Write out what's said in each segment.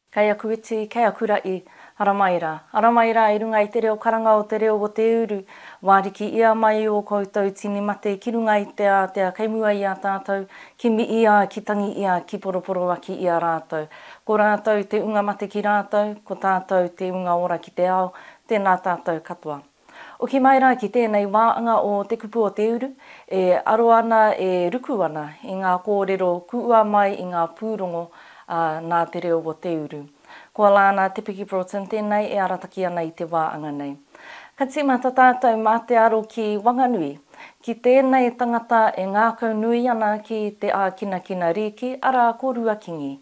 Kei aku iti, kei aku raʻi, ara mai ra, ara mai ra i runga i te reo karanga o te reo o te uru, wāriki ia mai i o koutou tini mate ki runga i te ātea kei mua i a tātou, kimi ia, ki tangi ia, ki poroporoaki i a rātou. Ko rātou te unga mate ki rātou, ko tātou te unga ora ki te ao, Tēnā tātou katoa. Oki mai rā ki tēnei wā anga o Te Kupu o Te Uru, e aro ana, e ruku ana i ngā kōrero kuua mai i ngā pūrongo a Nā Te Reo o Te Uru. Ko Alana Te Piki Broughton tēnei e arataki ana i te wā anga nei. Ka tīmata tātou mā te aro ki Wanganui, ki tēnei tangata e ngākau nui ana ki te ākinakina rīki, arā ko Ruakingi.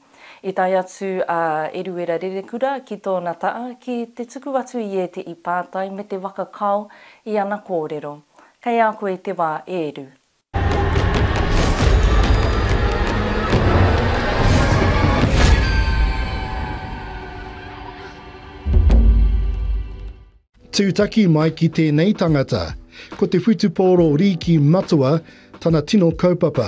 I tae atu a Eruera Rerekura ki tōna taa ki te tuku atu i ētehi pātai me te waka kao i ana kōrero. Kei a koe te wā e Eru. Tūtaki mai ki tēnei tangata. Ko te whutupōro Rīki Matua tana tino kaupapa.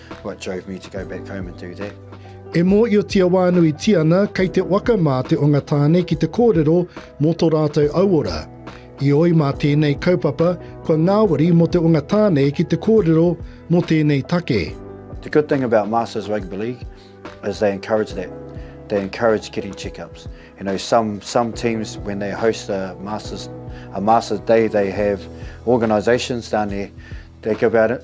What drove me to go back home and do that? E mōhiotia wānuitia ana kei te waka mā te onga tāne ki te kōrero mō tō rātou auora. Ioi mā tēnei kaupapa kua ngāwari mō te onga tāne ki te kōrero mō tēnei take. The good thing about Masters Rugby League is they encourage that. They encourage getting checkups. You know, some some teams when they host a Masters a Masters Day, they have organisations down there. They give out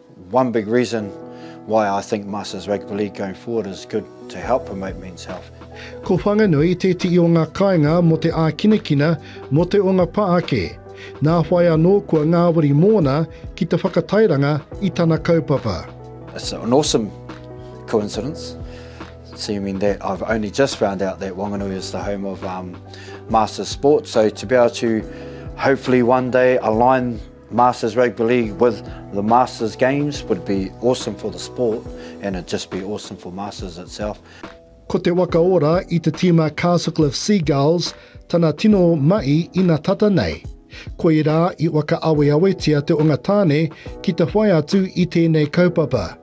One big reason why I think Masters Rugby League going forward is good to help promote men's health. Ko Whanganui tētehi o ngā kāinga mō te ākinakina mō te o ngā pā ake. Nā whai anō kua ngāwari mōna ki te whakatairanga i tana kaupapa. It's an awesome coincidence, seeming that I've only just found out that Wanganui is the home of um, Masters Sport, so to be able to hopefully one day align Masters Rugby League with the Masters Games would be awesome for the sport and it'd just be awesome for Masters itself. Ko te waka ora i te tīma Castlecliff Seagulls tana tino mahi ina tata nei. Koirā i whakaaweawetia te onga tāne ki te whai atu i tēnei kaupapa.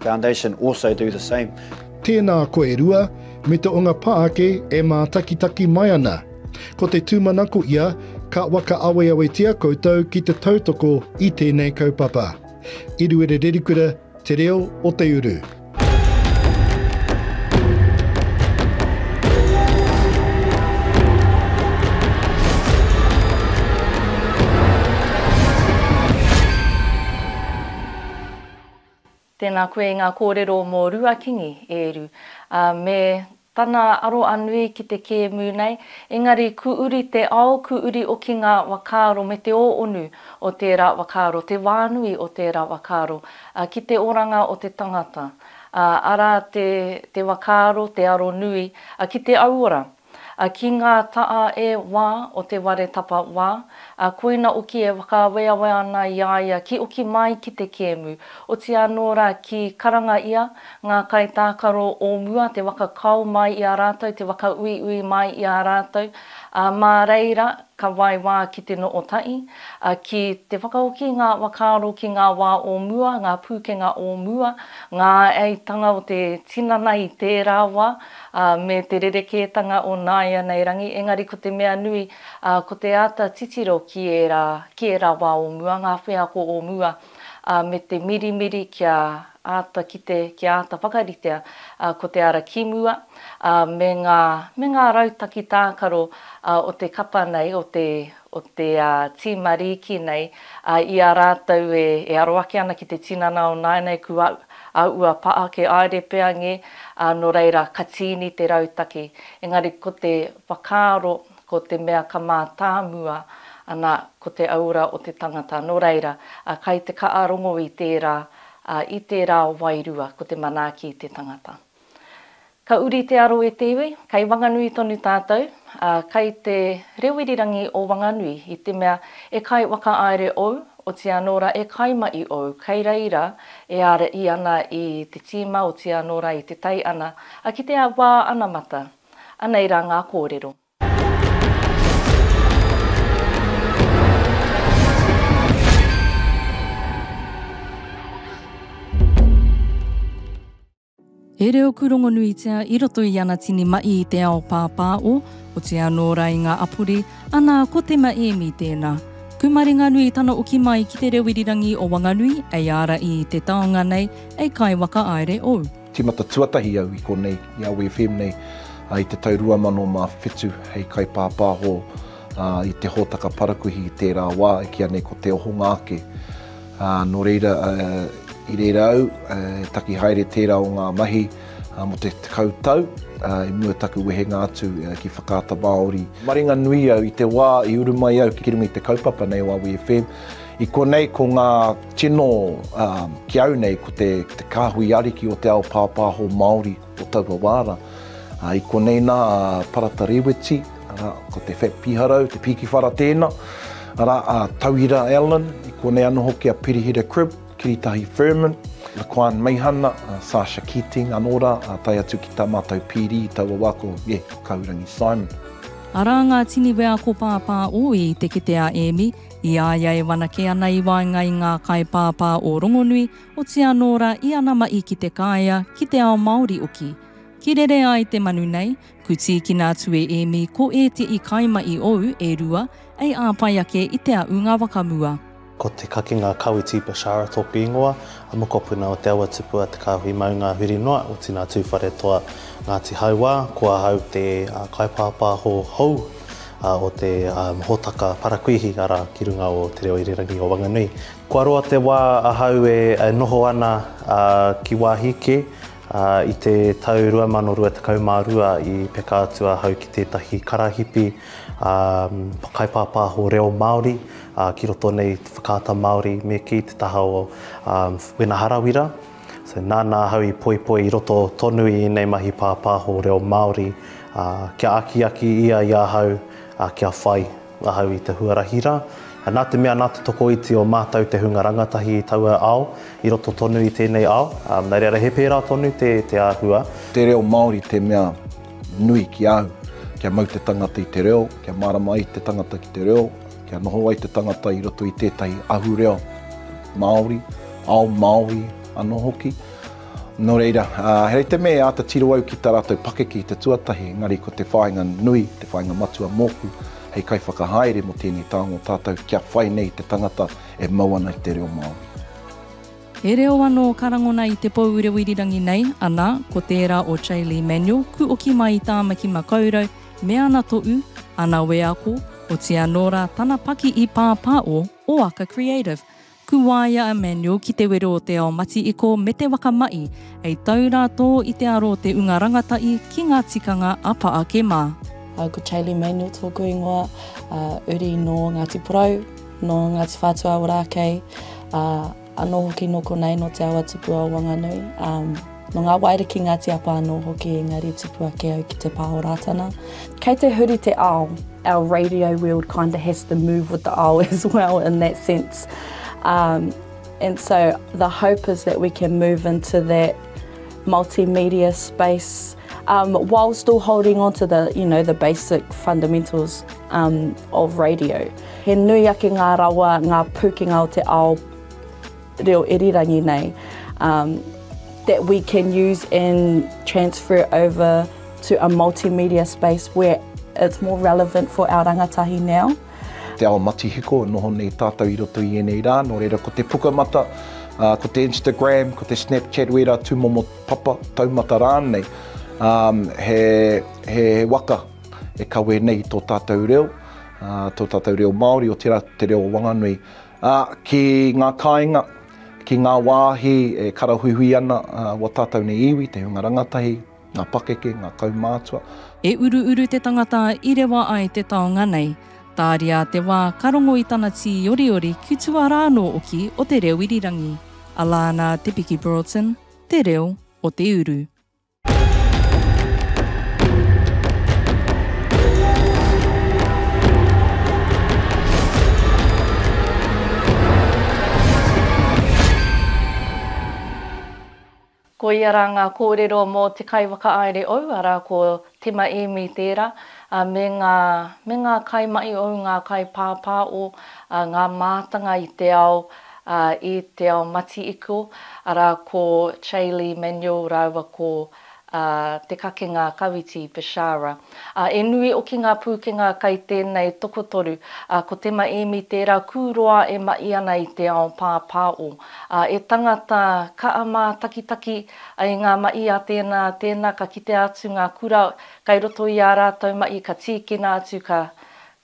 Foundation also do the same. Tēnā koe e rua, me te onga pā ake e mātakitaki mai ana. Ko te tūmanako ia, ka whakaaweawetia koutou ki te tautoko i tēnei kaupapa. Eruere Rerikura, Te Reo o Te Uru. Tēnā koe i ngā kōrero mō Rua Kingi, e Eru, ā, me tana aro a nui ki te kēmu nei, engari ku uri te ao, ku uri oki ngā wakaaro me te ōonu o tērā wakaaro, te wānui o tērā wakaaro, ā, ki te oranga o te tangata, ā, arā te, te wakaaro, te aro nui, ā, ki te auora. a ki ngā taʻa e wā o te ware tapa wā, a koina oki e whakaaweawe ana i a ia ki oki mai ki te kēmu, oti anō ra ki karanga ia, ngā kaitākaro o mua te waka kao mai i a rātou te waka uiui mai i a rātou, a mā reira ka wai wā ki te no o taʻi, a ki te whakaoki ngā wakaaro ki ngā wā o mua, ngā pūkenga o mua, ngā āeitanga o te tinana i tērā wā, ā, me te rerekētanga o nāianei rangi, engari ko te mea nui, ā, ko te āta titiro ki ērā, ki ērā wā o mua, ngā wheako o mua, ā, me te mirimiri kia āta kite, kia āta whakaritea, ā, ko te ara ki mua, ā, me ngā, me ngā rautaki tākaro, ā, o te kapa nei, o te, o te tīma rīki nei, ā, i a rātou e aro ake ana ki te tinana o nāianei ku au, ā, ua pā ake aere pea ngē, ā, nō reira ka tīni te rautaki. Engari ko te whakaaro, ko te mea ka mātāmua ana ko te aura o te tangata, nō reira, ā, kai te kaarongo i tērā, ā, i tērā wairua ko te manaaki i te tangata. Ka uri te aro e te iwi, kei Wanganui tonu tātou, ā, kei te reo irirangi o Wanganui, i te mea e kai whakaaere ou, oti anō ra e kai ma i ou, kei reira e ara i ana i te tīma oti anō ra i te tai ana, a ki te wā anamata. Anei ra ngā kōrero. He reo kūrongonuitia i roto i ana tini maʻi i te ao pāpāʻo, otiia nō rā i ngā apuri, anā, ko Te Maēmi tēnā. Kūmaringanui tana oki mai ki te reo irirangi o Wanganui, ei ārai i te taonga nei, ei kai whakaaere ou. Tīmata tuatahi au i konei, i Awe FM nei, i te tau 2007 hei kaipāpāho i te hōtaka parakuihi i tērā wā e kīa nei ko Te Ohonga Ake. Ā, nō reira, i reira au e taki haere tērā o ngā mahi mō te tekau tau i mua i taku wehenga atu ki Whakaata Māori. Maringa nui au i te wā i uru mai au ki runga i te kaupapa nei o Awi FM. I konei ko ngā tino ki au nei ko te kāhui ariki o te ao pāpāho Māori. o taua wā rā. I konei nā a Parata Rēweti, arā, ko te Fat Piharau, te Pīkiwhara tēnā, arā, a Tauira Allen, i konei anō hoki a Pirihira Cribb, Kiritahi Furman, Laquan Meihana, a Sasha Keating anō rā, ā, tae atu ki tā mātou pīrī i taua wā ko, e, Kahurangi Simon. Arā ngā tini wheako pāpā ōi i te kete a Ēmi, i a ia e whanake ana i waenga i ngā kaipāpā o rongonui, Oti anō rā i ana mahi ki Te Kāea, ki te ao Māori oki. Ki rere ai te manu nei, ku tīkina atu e Ēmi ko ētehi kaimahi ou e rua ei āpae ake i Te Aʻunga Wakamua. Ko te kakinga Kawiti Bashara tōku ingoa, a mokopuna o Te Awa Tupu a Te Kāhui Maunga huri noa, o Tina Tūwharetoa, Ngāti Hauā, ko ahau te kaipāpāho hou o te hōtaka parakuihi, arā, ki runga o Te Reo Irirangi o Wanganui, Kua roa te wā ahau e noho ana ki wāhi kē. I te tau 2022 i peka atu ahau ki tētahi karahipi kaipāpāho reo Māori ki roto nei i te Whakaata Māori me kī te taha o Wena Harawira. So nāna ahau i poipoi i roto tonu i ēnei mahi pāpāho reo Māori kia akiaki ia i ahau kia whai. Ahau i te huarahi rā. Nā te mea nā te tokoiti o mātou te hunga rangatahi i taua ao, i roto tonu i tēnei ao, nā reira he pērā tonu te te āhua. Te reo Māori te mea nui ki a au. Kia mau te tangata i te reo, kia mārama ai te tangata ki te reo, kia noho ai te tangata i roto i tētahi ahureo Māori, ao Māori anō hoki. Nō reira, he rite me āta tiro au ki tā rātou pakeke i te tuatahi, engari ko te whāinga nui, te whāinga matua mōku hei kaiwhakahaere mō tēnei taonga o tātou kia whai nei te tangata e mau ana i te reo Māori. He reo anō ka rangona i te pou reoirirangi nei, ana, ko tērā o Chaylee Manuel, Kuoki mai i Tāmaki Makaurau, me ana toʻu, ana wēako, otiia nō rā tana paki i pāpā o Oaka Creative. Ku waia a Manuel ki te wero o te ao mati-iko me te waka maʻi, hei tau ra to i te aro o te unga rangataʻi ki nga tikanga a Paake ma. Ko Chaley Manuel tōku ingoa, uri nō Ngāti Porou, nō Ngāti Whātua Ōrākei, anō hoki nō konei nō te awa tupu o Wanganui. Nō ngā waere ki Ngāti Apa anō hoki engari tupu ake au ki te pā o Rātana. Kei te huri te ao, our radio world kind of has to move with the ao as well in that sense. Um, and so the hope is that we can move into that multimedia space um, while still holding on to the, you know, the basic fundamentals um, of radio. He nui ake ngā rawa, ngā pūkenga o te ao reo irirangi nei um that we can use and transfer over to a multimedia space where it's more relevant for our rangatahi now. Te ao matihiko, noho nei tātou i roto i ēnei rā, nō reira ko te pukamata, uh, ko te Instagram, ko te Snapchat, wērā tūmomo papa, taumata rānei, um, he, he waka e kawe nei tō tātou reo, uh, tō tātou reo Māori, o tērā te reo o Wanganui, Ā, ki ngā kāinga, ki ngā wāhi e karahuihui ana wā tātou nei iwi, te hunga rangatahi, ngā pakeke, ngā kaumātua. E uruuru te tangata i rewa ai te taonga nei. Tāria te wā ka rongo i tana tīoriori ki tua rā anō oki o te reo irirangi. Alana Te Piki Broughton, Te Reo o te Uru. Koia rā ngā kōrero mō te kaiwhakaāere ou, arā, ko Tima Ēmi tērā, ā, me ngā, me ngā kaimahi ou, ngā kaipāpāo, ā, ngā mātanga i te ao, ā, i Te Ao Mati-Iko, arā, ko Chaylee Manuel rāua ko Te Kakenga Kawiti Bishara. Ā, e nui hoki ngā pūkenga kai tēnei tokotoru, ā, ko Tema Emi tērā kūroa e mahi ana i te ao pāpāo. Ā, e tangata kaha mātakitaki i ngā mahi a tēnā, tēnā ka kitea atu ngā kura kai roto i ā rātou mahi ka tīkina atu ka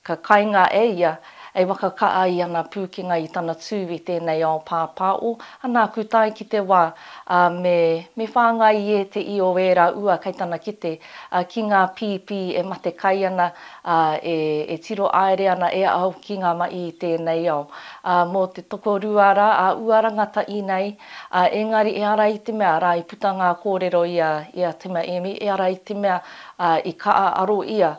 Ka kainga e ia, e wakaka ai ana pūkenga i tana tū i tēnei ao pāpāo, ana aku tae ki te wā, ā, me, me whāngai i ēteī o ērā ua kei tana kite, ā, ki ngā pīpī e mate kai ana, ā, e, e tiro aere ana e au ki ngā maī i tēnei ao. Ā, mō te tokorua rā a ua rangataī nei, ā, engari e ara i te mea rā i puta ngā kōrero i a, i a Tima Emi, e ara i te mea, ā, i kaʻa aro ia,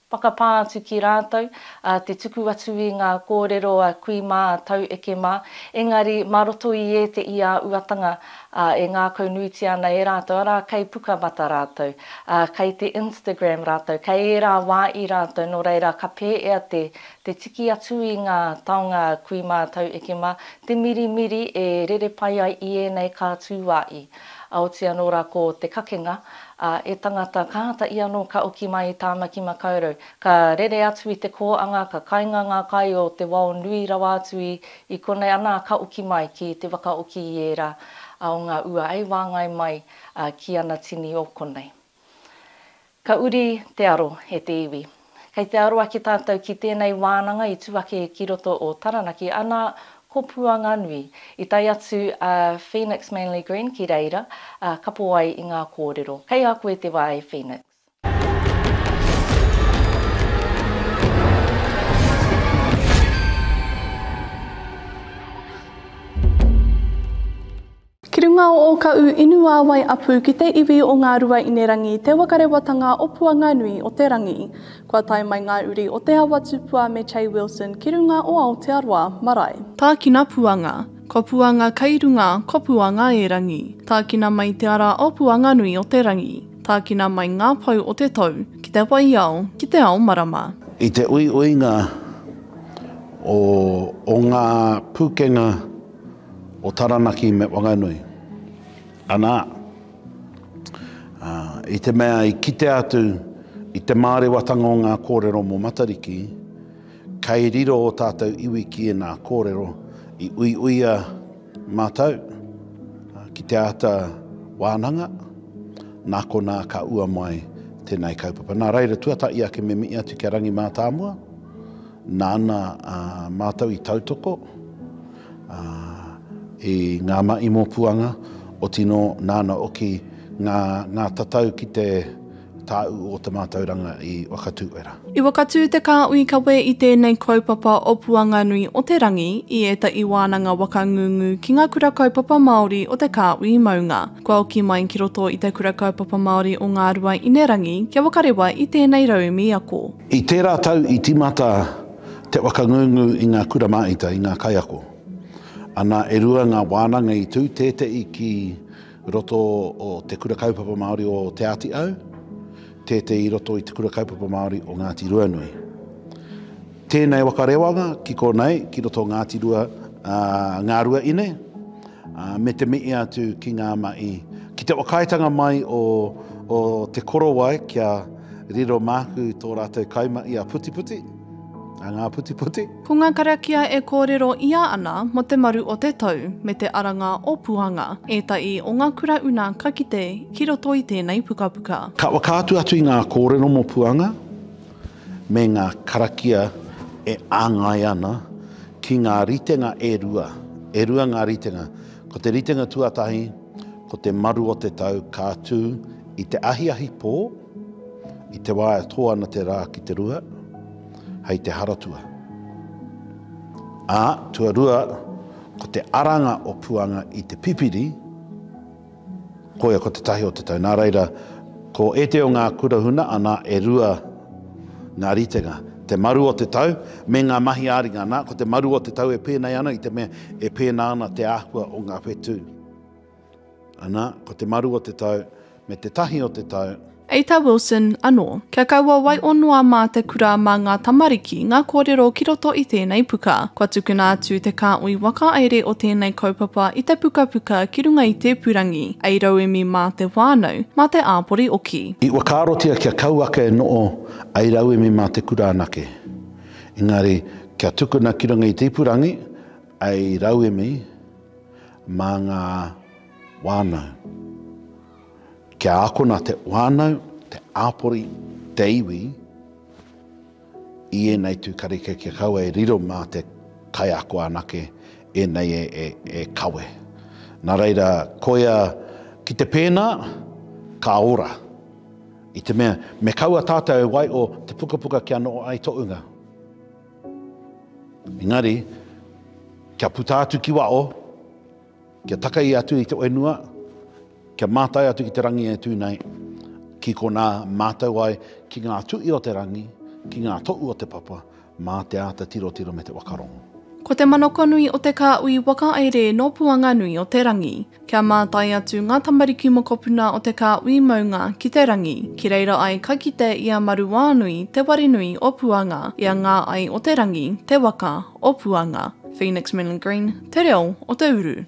Whakapā atu ki rātou, ā, te tuku atu i ngā kōrero a kui mā, a taueke mā, engari mā roto i ēte i a uatanga, ā, e ngākau nuitia ana e rātou, arā, kei Pukamata rātou, ā, kei te Instagram rātou, kei ērā wā i rātou, nō reira, ka pēea te, te tiki atu i ngā taonga a kui mā, a taueke mā, te mirimiri e rere pai ai i ēnei kā tū wā i. A oti anō rā ko te kakenga, a, e tangata, kāta i anō ka oki mai i Tāmaki Makaurau. Ka rere atu i te kōanga, ka kainga ngā kai o te wao nui rawa atu i, i konei, anā, ka oki mai ki te wakaoki i ērā, a, o ngā ua ei wāngai mai, a, ki ana tini o konei. Ka uri te aro e te iwi. Kei te aro ake tātou ki tēnei wānanga i tū ake ki roto o Taranaki, anā, ko Puanganui. I tae atu a Phoenix Manly Green ki reira, ā, kapo ai i ngā kōrero. Kei a koe te wā e Phoenix. Ki runga o Ōkaʻu inu wāwae apu ki te iwi o Ngāruaīnerangi te wakarewatanga o Puanganui o te Rangi. Kua tae mai ngā uri o Te Awa Tupua me Che Wilson ki runga o Aotearoa marae. Tākina puanga, ko puanga kei runga, ko puanga e rangi. Tākina mai te ara o Puanganui o te Rangi. Tākina mai ngā pou o te tou, ki te waiao, ki te ao marama. I te uiuinga o ngā pukenga. o Taranaki me Whanganui. Anā, i te mea i kitea atu i te mārewatanga o ngā kōrero mō Matariki, kei riro o tātou iwi ki ēnā kōrero i uiuia mātou ki te āta wānanga, nā konā ka ua mai tēnei kaupapa. Nā reira, tuatahi ake me mihi atu ki a Rangi Mātāmua, nāna mātou i tautoko, Ā, i ngā mahi mōpuanga, oti nō, nāna oki ngā, ngā tatau ki te tāu o te mātauranga i Wakatūera. I wakatū te kāhui kawe i tēnei kaupapa o Puanganui o te Rangi i ētahi wānanga waka ngungu ki ngā Kura Kaupapa Māori o te kāhui maunga. Kua oki mai ki roto i te Kura Kaupapa Māori o Ngāruainerangi kia wakarewa i tēnei raumi ako. I tērā tau i tīmata Te whakangungu i ngā kura māita, i ngā kaiako. Ana, e rua ngā wānanga i tū, tēteʻi ki roto o Te Kura Kaupapa Māori o Te Ātiau, tēteʻi i roto i Te Kura Kaupapa Māori o Ngāti Ruanui. Tēnei waka rewanga ki konei, ki roto o Ngāti Rua, ā, ngā rua ine, ā, me te mihi atu ki ngā mahi, ki te whakaaetanga mai o, o Te Korowai kia. Riro māku tō rātou kaimahi a Putiputi, a Ngā Putiputi. Ko ngā karakia e kōrero ia ana mo te maru o te tou me te aranga o Puanga, ētahi o ngā kura una ka kite ki roto i tēnei pukapuka. Ka whakaatu atu i ngā kōrero mo Puanga me ngā karakia e āngai ana ki ngā ritenga e rua, e rua ngā ritenga, ko te ritenga tuatahi ko te maru o te tau ka tū I te ahiahi pō, i te wā e tō ana te rā ki te rua, hei te Haratua. Ā, tuarua, ko te aranga o Puanga i te pipiri, koia ko te tahi o te tau. Nā reira, ko ētahi o ngā kura huna, anā, e rua ngā ritenga. Te maru o te tau, me ngā mahi ā-ringa. Anā, ko te maru o te tau e pēnei ana, i te mea e pēnā ana te āhua o ngā whetū. Ana, ko te maru o te tau, me te tahi o te tau. Eita Wilson, anō. Kia kaua waiō noa mā te kura mā ngā tamariki ngā kōrero ki roto i tēnei puka. Kua tukuna atu te kāhui whakahaere o tēnei kaupapa i te pukapuka ki runga i te ipurangi, hei rauemi mā te whānau, mā te āpori hoki. I whakaarotia kia kau ake e noho ai rauemi mā te kura anake. Engari, kia tukuna ki runga i te ipurangi, hei rauemi, Mā ngā whānau. Kia akona te whānau, te āpori, te iwi i ēnei tū kareka kia kaua e riro mā te kaiako anake ēnei e kawe. Nā reira, koia ki te pēnā, ka ora. I te mea, me kaua tātou e waiho te pukapuka kia noho ai tō unga. Engari, kia puta atu ki waho, kia takei atu i te whenua, kia mātai atu ki te rangi e tū nei, ki konā mātau ai ki ngā tuhi o te rangi, ki ngā tohu o te papa, mā te āta tirotiro me te whakarongo. Ko te manakonui o te kāhui wakaere nō Puanganui o te Rangi. Kia mātai atu ngā tamariki mokopuna o te kāhui maunga ki te rangi, ki reira ai ka kite i a Maruānui te ware nui o Puanga, i a Ngā Ai o te Rangi te waka o Puanga. Phoenix Milne Green, Te Reo o te Uru.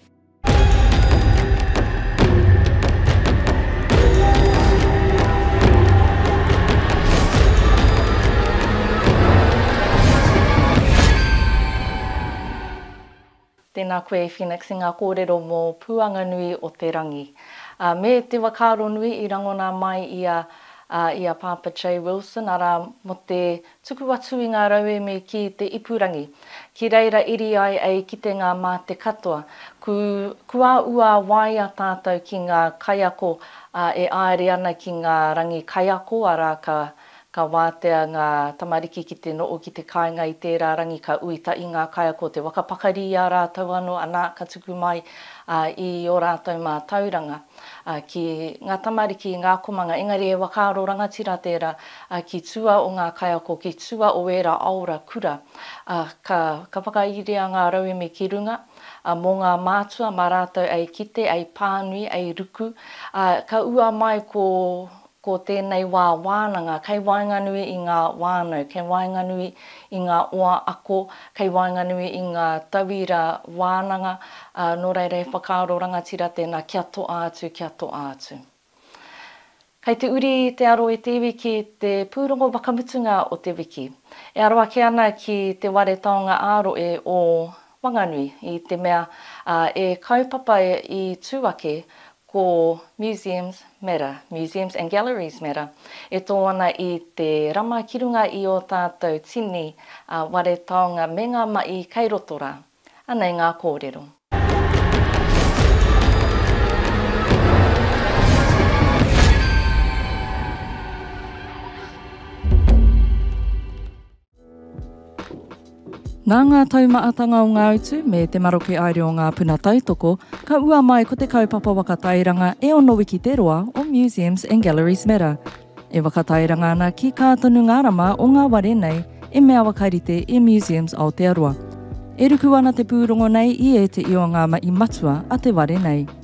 Tēnā koe e Phoenix i ngā kōrero mō Puanganui o te Rangi. A, me te wakaaro nui i rangona mai i a, a, i a Pāpa J. Wilson, arā, mō te tuku atu i ngā rauemi ki te ipurangi. Ki reira iri ai e i kitenga mā te katoa. Ku, kua ua waea tātou ki ngā kaiako, a, e āere ana ki ngā rangi kaiako, arā, ka. Ka wātea ngā tamariki ki te noho ki te kāinga i tērā rangi ka ui tahi ngā kaiako te waka pakari i a rātou anō anā ka tuku mai i ō rātou mātauranga ki ngā tamariki, ngā akomanga engari he whakaaro rangatira tērā ki tua o ngā kaiako ki tua o ērā aora kura ka whakairia ngā rauemi ki runga mō ngā mātua mā rātou ei kite, ei pānui, ei ruku ka ua mai ko Ko tēnei wā wānanga kei waenganui i ngā whānau, kei waenganui i ngā oa ako, kei waenganui i ngā tauira wānanga, ā, nō reira he whakaaro rangatira tēnā kia toa atu, kia toa atu. Kei te uri te aro i te iwi ki te pūrongo whakamutunga o te wiki. E aro ake ana ki Te Whare Taonga ā-Rohe o Whanganui, i te mea e kaupapa i tū ake ko Museums Matter, Museums and Galleries Matter, e tō ana i te rama ki runga i ō tātou tini ware taonga me ngā mahi kei roto rā. Anei ngā kōrero. Nā ngā taumaatanga o ngā utu me te maroke aere o ngā puna tautoko, ka ua mai ko te kaupapa waka tairanga e ono wiki te roa o Museums and Galleries Matter. E waka tairanga ana ki kā tonu ngā rama o ngā ware nei e mea wakarite i Museums Aotearoa. E ruku ana te pūrongo nei i ēteio ngā mahi matua a te ware nei.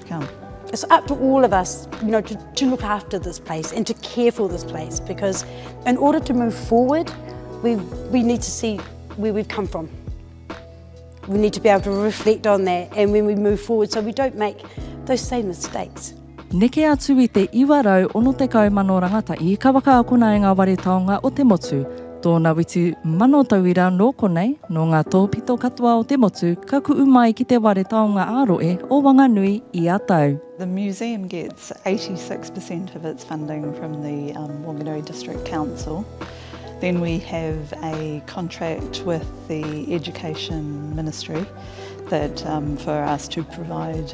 Kia. It's up to all of us, you know, to, to look after this place and to care for this place because in order to move forward, we, we need to see where we've come from. We need to be able to reflect on that and when we move forward so we don't make those same mistakes. Neke atu i te 960 rangatahi ka whakaakona e ngā ware taonga o te motu, Tōna witu mano tauira nō konei, nō ngā tōpito katoa o te motu ka kuʻu mai ki te ware taonga ā-rohe o Wanganui ia tau. The museum gets 86 per cent of its funding from the Wanganui District Council. Then we have a contract with the Education Ministry that for us to provide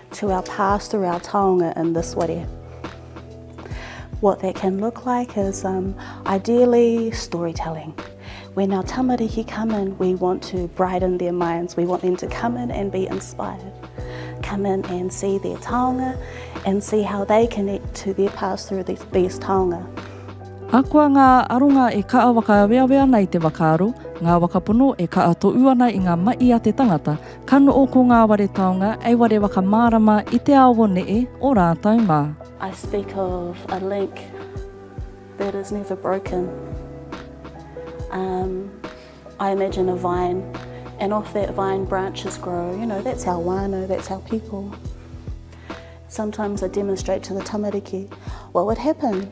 to our past or our taonga in this ware. What that can look like is um, ideally storytelling. When our tamariki come in, we want to brighten their minds. We want them to come in and be inspired. Come in and see their taonga and see how they connect to their past through these, these taonga. Ahakoa ngā aronga e kaa whakaaweawe ana i te whakaaro, ngā wakapono e kaa toʻu ana i ngā maʻi a te tangata, Ka noʻo ko ngā ware taonga ei ware whakamārama i te ao o neʻe, o rātou mā. I speak of a link that is never broken. Um, I imagine a vine and off that vine branches grow, you know, that's our whānau, that's our people. Sometimes I demonstrate to the tamariki what would happen.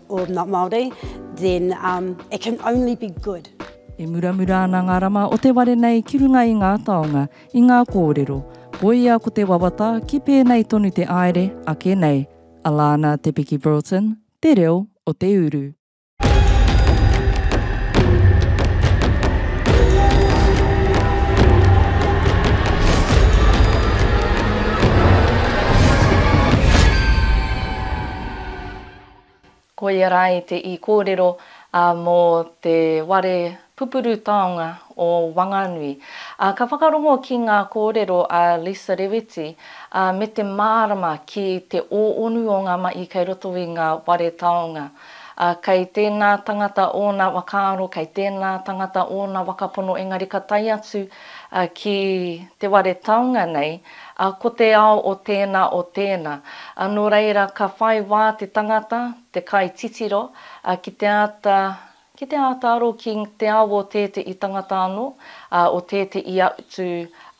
or not Māori, then um it can only be good. E muramura ana ngā rama o te ware nei ki runga i ngā taonga, i ngā kōrero, koia ko te wawata ki pēnei tonu te āere ake nei. Alana Te Piki Broughton, Te Reo o te Uru. Koia rā i te i kōrero a mō te ware pupuru taonga o Wanganui. A ka whakarongo ki ngā kōrero a Lisa Rewiti a me te mārama ki te ōonu o ngā mahi kei roto i ngā ware taonga. A kei tēnā tangata ōna wakaaro, kei tēnā tangata ōna wakapono engari ka tae atu ki te ware taonga nei Ā, ko te ao o tēnā, o tēnā. Ā, nō reira, ka whai wā te tangata, te kaititiro, ā, ki te āta, ki te āta aro ki te ao o tētehi tangata anō, ā, o tētehi atu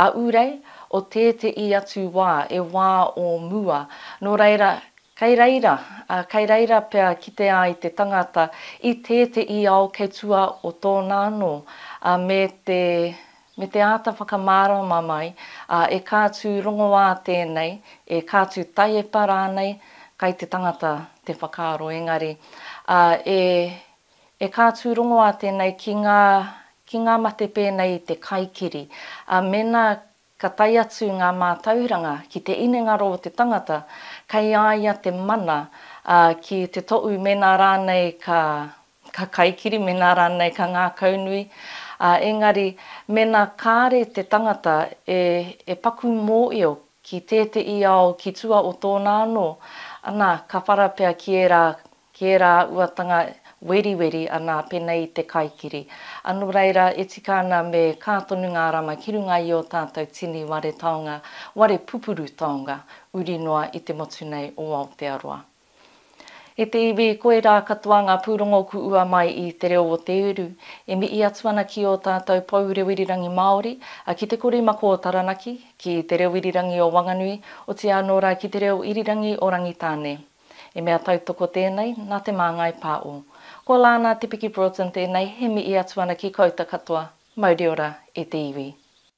ahurei, o tētehi atu wā, e wā o mua. Nō reira, kei reira, ā, kei reira pea kite ai te tangata i tētehi ao kei tua o tōna anō, ā, me te, Me te āta whakamārama mai, ā, e kā tū rongoā tēnei, e kā tū taiepa rānei, kai te tangata te whakaaro engari, ā, e, e kā tū rongoā tēnei ki ngā, ki ngā mate pēnei i te kaikiri, ā, mēnā ka tae atu ngā mātauranga ki te inengaro o te tangata, kei a ia te mana, ā, ki te toʻu mēnā rānei ka, ka kaikiri mēnā rānei ka ngākaunui, ā, engari mēnā kāre te tangata e paku mōio ki tēteī ao ki tua o tōna anō, anā, ka whara pea ki ērā, ki ērā uatanga weriweri, anā, pēnei i te kaikiri. Anō reira, e tika ana me kā tonu ngā rama ki runga i ō tātou tini ware taonga, ware pupuru taonga, uri noa i te motu nei o Aotearoa. E te iwi, koirā katoa ngā pūrongo ku ua mai i Te Reo o Te Uru, e mihi atu ana ki ō tātou pou reo irirangi Māori, a Ki Te Kori Mako o Taranaki, ki Te Reo Irirangi o Wanganui, otīā anō rā ki Te Reo Irirangi o Rangitāne. He mea tautoko tēnei, nā Te Māngai Pā o. Ko Lana Te Piki Broughton tēnei, he mihi atu ana ki kouta katoa, mauri ora e te iwi.